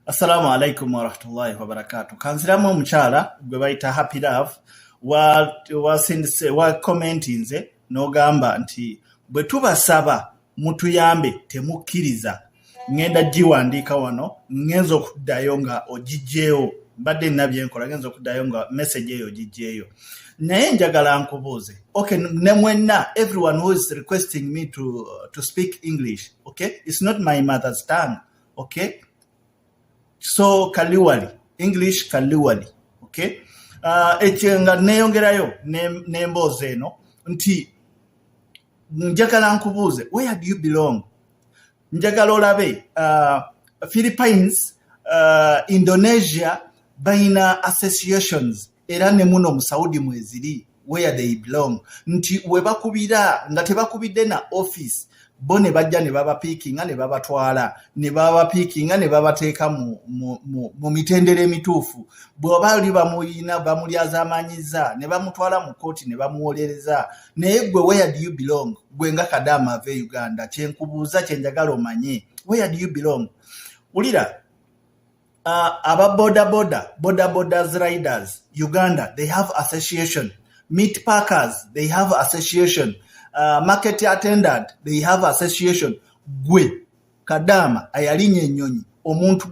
Assalamu alaikum warahmatullahi wabarakatu. Kanziramu omukyala gwe bayita Happy Love wakomentinze wa n'ogamba nti bwe tubasaba mutuyambe temukkiriza ŋŋenda giwandiika wano ŋŋenza okuddayo nga ogigyewo mbadde nina byenkola ŋenza okuddayo nga message eyo ogigyeyo naye njagala nkubuuze ok ne mwenna everyone who is requesting me to, to speak english ok its not my mother's tongue ok so kaliwali english kaliwali ok uh, ekyo nga neyongerayo n'emboozi ne eno nti njagala nkubuuze where do you belong njagala olabe uh, philippines uh, indonesia bayina associations era ne muno mu saudi mweziri where they belong nti webakubira nga tebakubidde na office bo ne bajja ne babapiikinga ne babatwala ne babapiikinga ne babateeka mu, mu, mu, mu mitendera emituufu bw'oba oli bamuyina bamulyazamanyiza ne bamutwala mu kkooti ne bamuwolereza naye gwe where do you belong gwe nga kadaama ava e uganda kyenkubuuza kyenjagala omanye where do you belong wulira uh, aba bodaboda bodabodas riders uganda they have association meat parkers they have association uh, market attendant they have association gwe kadaama ayalinya ennyonyi omuntu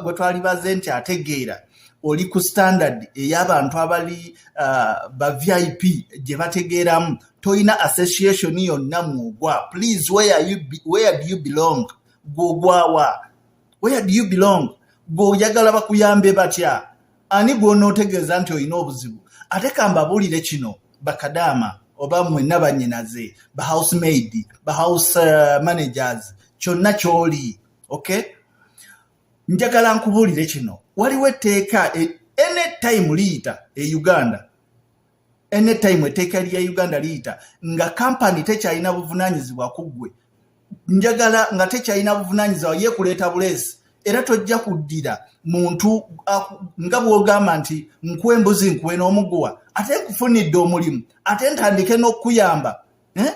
gwe twali baze nti ategeera oli ku standard ey'abantu abali uh, ba vip gye bategeeramu tolina association yonna mwogwa please where, you be, where do you belong gwogwawa where do you belong gweoyagala bakuyambe batya ani gw'onootegeeza nti olina obuzibu ate kambabuulire kino bakadaama oba mwenna bannyinaze ba house maid ba house uh, managers kyonna ky'oli okay njagala nkubuulire kino waliwo etteeka e, any time liyita e uganda anytime eteeka lya uganda liyita nga kampani tekyalina buvunanyizibwa ku ggwe njagala nga tekyalina buvunanyizibwa ye kuleeta buleesi era tojja kuddira muntu nga bwogamba nti nkuwa embuzi nkuwe n'omuguwa ate nkufunidde omulimu ate ntandike n'okukuyamba eh?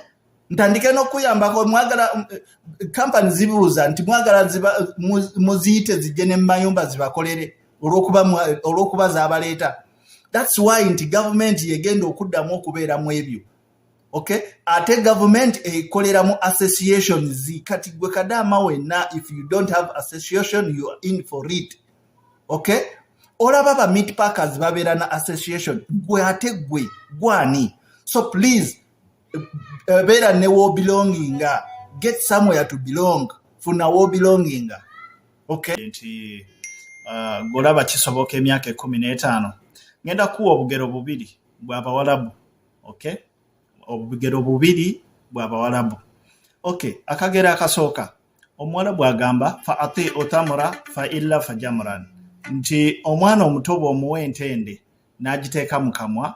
ntandike n'okuyambako mwagala kampani eh, zibuuza nti mwagala muziyite zijje ne mumayumba zibakolere olw'okuba zabaleeta thats why nti gavumenti yegenda okuddamu okubeera mu ebyo okay ate gavumenti ekolera mu association zi kati gwe kadaama wenna if you don't have association you are in for it okay olaba ba meat packers babeera na association gwe ate gwe gwani so please eh, beera ne wobilonginga get somewhere to belong funa wobilonginga okay nti uh, golaba kisoboka emyaka ekumi n'etaano ngenda kuwa obugero bubiri bwabawalabu okay obugero bubiri bwabawalabu okay akagero akasooka omuwala bwagamba fa ati otamura fa illa fa jamuran nti omwana omuto bwomuwa entende n'agiteeka mu kamwa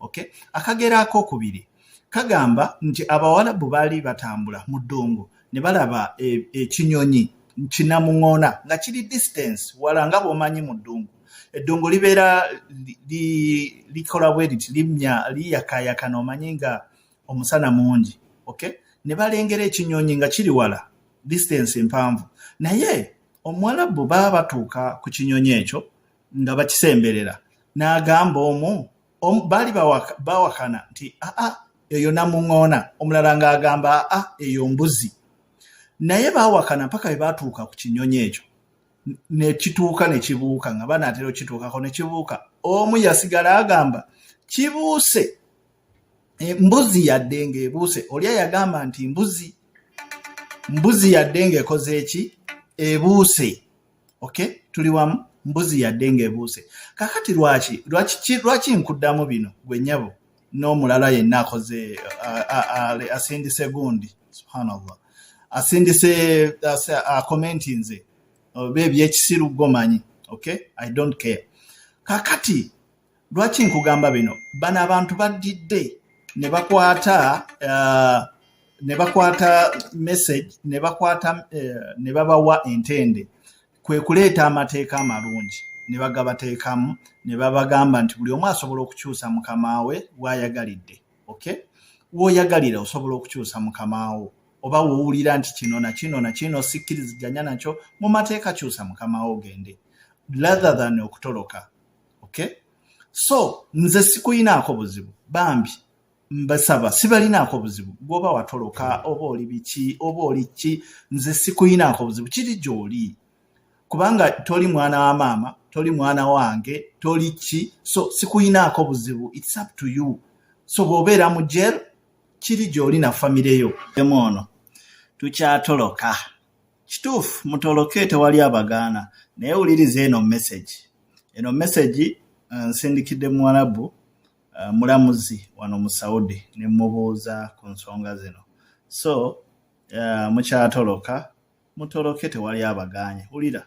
okay? akagera akokubiri kagamba nti abawalabu baali batambula mu ddungu ne balaba e, ekinyonyi e, kinamuŋona nga kiri distance wala nga bwomanyi mu ddungu eddungu libeera likola li, li bwe liti limya liyakayaka nomanyi nga omusana mungi okay? ne balengera ekinyonyi nga kiri wala distance mpanvu naye omuwalabu baba batuuka ku kinyonyi ekyo nga bakisemberera n'agamba omu baali bawakana nti aa eyo namuŋoona omulala ng'agamba aa eyo mbuzi naye bawakana mpaka bwe baatuuka ku kinyonyi ekyo nekituuka nekibuuka nga banaatera okituukako nekibuuka omu yasigala agamba kibuuse embuzi yadde ng'ebuuse oli ayagamba nti mbuzi mbuzi yadde ng'ekoze eki ebuuse okay tuli wamu mbuzi yadde ng'ebuuse kakati lwaki lwaki nkuddamu bino gwe nyabo n'omulala yenna akoze asindise gundi subhanallah asindise akomenti nze oba ebyekisiru gomanyi okay i don't care kakati lwaki nkugamba bino bano abantu baddidde ne bakwata uh, ne bakwata message ne bakwata uh, ne babawa entende kwe kuleeta amateeka amalungi ne bagabateekamu ne babagamba nti buli omu asobola okukyusa mukamaawe waayagalidde okay wooyagalira osobola okukyusa mukamaawo oba wowulira nti kino na kino na kino sikkiriziganya nakyo mu mateeka kyusa mukamaawo ogende rather than okutoloka okay so nze sikuyinaako buzibu bambi mbasaba sibalinaako buzibu gwoba watoloka oba oli biki oba oli ki nze sikuyinaako buzibu kiri gyoli kubanga toli mwana wa maama toli mwana wange toli ki so sikuyinaako buzibu its up to you so bwobeera mu jel kiri gyoli na famireyo emu ono tukyatoloka Kituufu mutoloke tewali abagaana naye wuliriza eno message. Eno message uh, nsindikidde muwalabu uh, mulamuzi wano mu Saudi ne mubuuza ku nsonga zino. So uh, mukyatoloka mutoloke tewali abagaanye. Wulira.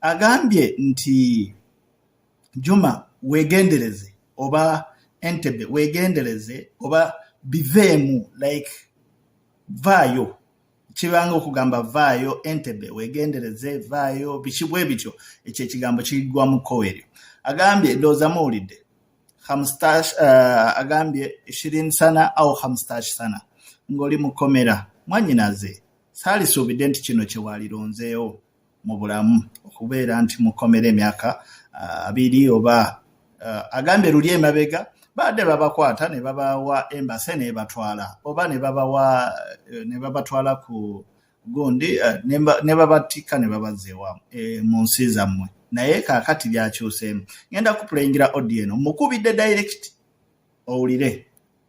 agambye nti Juma wegendereze oba Entebbe wegendereze oba biveemu like vaayo kibanga okugamba vaayo Entebbe wegendereze vaayo biki bwe bityo ekyo ekigambo kiggwamu kkowe eryo agambye ndowooza muwulidde hamstash uh, eh, agambye shirin sana au hamstash sana ng'oli mu kkomera mwannyinaze saalisuubidde nti kino kye waalironzeewo mu bulamu okubeera nti mukomera emyaka uh, abiri oba uh, agambye luli emabega baadde babakwata ne babawa embase nebatwala oba nebabatwala ku gundi ne babattikka ne babazza ewa e, mu nsi zammwe naye kakati byakyuseemu ngenda kupulengera odieno mukubidde direct owulire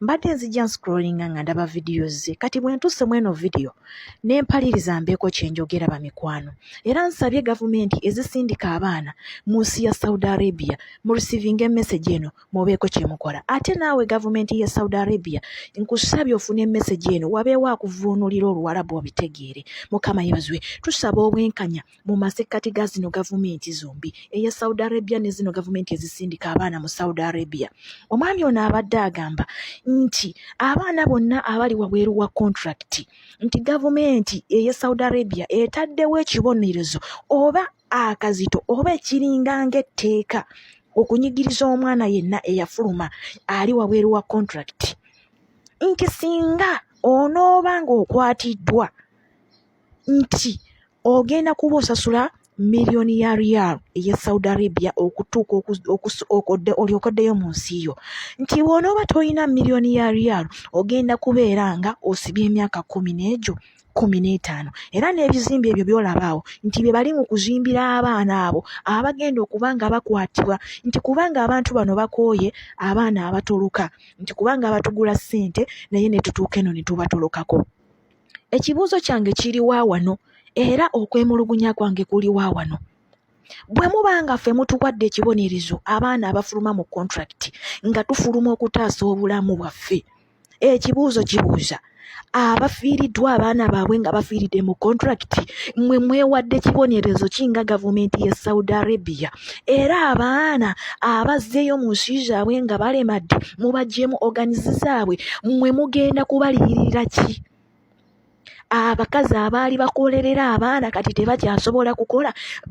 mbadde nzija nscrollinga nga ndaba vidiyo ze kati bwe ntuuse mu eno vidiyo ne mpaliriza mbeeko kye njogera bamikwano era nsabye gavumenti ezisindika abaana mu nsi ya saudi arabia mu receivinga emesegi eno mubeeko kye mukola ate naawe gavumenti ya saudi arabia nkusabye ofuna emesegi eno wabeewo akuvuunulira oluwalabu obitegeere mukama yebazwe tusaba obwenkanya mu masekkati ga zino gavumenti zombi eya Saudi Arabia ne zino gavumenti ezisindika abaana mu Saudi Arabia. Omwami ono abadde agamba nti abaana bonna abali wabweru wa kontulakiti nti gavumenti eya Saudi Arabia etaddewo ekibonerezo oba akazito oba ekiringa ng'etteeka okunyigiriza omwana yenna eyafuluma ali wabweru wa kontulakiti nti singa onooba ng'okwatiddwa nti ogenda kuba osasula miliyoni ya riyal eye saudi arabia okutuuka okodde olyokoddeyo mu nsi yo nti bw'onooba tolina miliyoni ya riyal ogenda kubeera nga osibye emyaka kumi n'egyo kumi n'etaano era n'ebizimbe ebyo byolaba awo nti bye bali mu kuzimbira abaana abo abagenda okuba nga bakwatibwa nti kubanga abantu bano bakooye abaana abatoloka nti kubanga abatugula ssente naye ne tutuuka eno ne tubatolokako ekibuuzo kyange kiri wa wano era okwemulugunya kwange kuli wa wano bwe muba nga ffe mutuwadde ekibonerezo abaana abafuluma mu kontrakiti nga tufuluma okutaasa obulamu bwaffe ekibuuzo kibuuza abafiiriddwa abaana baabwe nga bafiiridde mu kontrakiti mwe mwewadde kibonerezo ki nga gavumenti ye saudi arabia era abaana abazzeeyo mu nsi zaabwe nga balemadde mubagyemu oganizi zaabwe mwe mugenda kubaliyirira ki abakazi abaali bakolerera abaana kati tebakyasobola kukola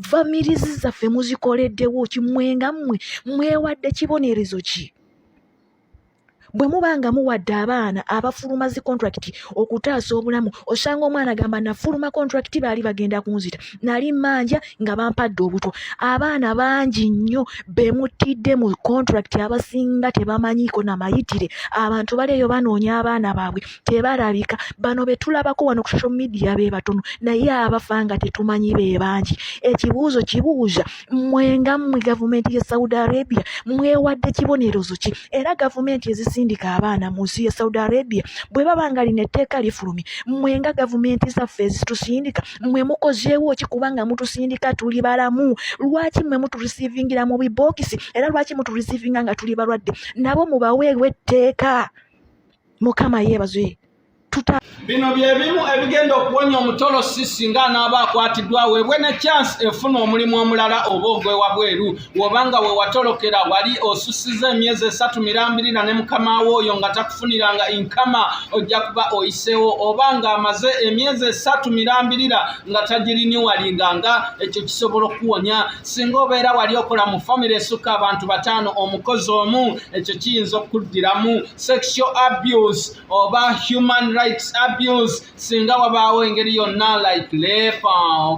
famirizi zaffe muzikoleddewo kimwe nga mmwe mwewadde kibonerezo ki bwe muba nga muwadde abaana abafuluma zi kontulakiti okutaasa obulamu osanga omwana agamba nafuluma kontulakiti baali bagenda kunzita nali mmanja nga bampadde obutwa abaana bangi nnyo be muttidde mu kontulakiti abasinga tebamanyiiko na mayitire abantu bali eyo banoonya abaana baabwe tebalabika bano be tulabako wano ku social media be batono naye abafa nga tetumanyi be bangi ekibuuzo kibuuza mwe nga mwe gavumenti ye saudi arabia mwewadde kibonerezo ki era gavumenti ezisindika abaana mu nsi ye saudi arabia bwe baba nga lino etteeka lifulumye mwe nga gavumenti zaffe ezitusindika mwe mukozeewo ki kubanga mutusindika tuli balamu lwaki mwe muturisiivingira mu bibookisi era lwaki muturisiivinga nga tuli balwadde nabo mubaweewo etteeka mukama yeebazwe tuta bino byebimu ebigenda okuwonya omutolosi singa anaaba akwatiddwa weebwe ne chance efuna omulimu omulala oba ogwewabweru wobanga wewatolokera wali osusiza emyezi esatu mirambirira ne mukama wo oyo nga takufuniranga inkama ojja kuba oyiseewo oba nga amaze emyezi esatu mirambirira nga tagiriniwalinga nga ekyo kisobola okuwonya singa obeera wali okola mu famiry esukka abantu bataano omukozi omu ekyo kiyinza okuddiramu sexual abuse oba human rights abuse singa wabaawo engeri yonna like lepa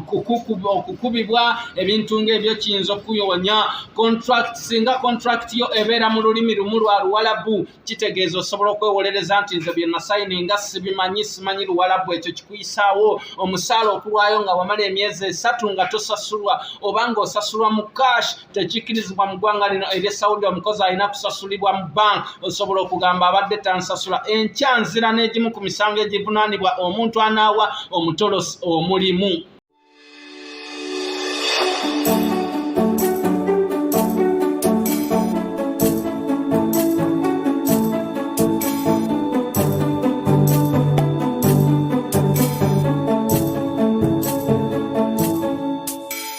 okukubibwa ebintu ngaebyo kiyinza okukuyonya contract singa contract yo ebeera mu lulimi lumu lwa luwalabu kitegeeza osobola okwewolereza nti nze byenasayini nga sibimanyi simanyi luwalabu ekyo kikuyisaawo omusaala okulwayo nga wamala emyezi esatu nga tosasulwa oba nga osasulwa mu cash tekikkirizibwa mu ggwanga lino erye saudi omukozi alina kusasulibwa mu bank osobola okugamba abadde tansasula enkya nzira n'egimu ku misango egivunaanibwa omuntu anaawa omutolosi omulimu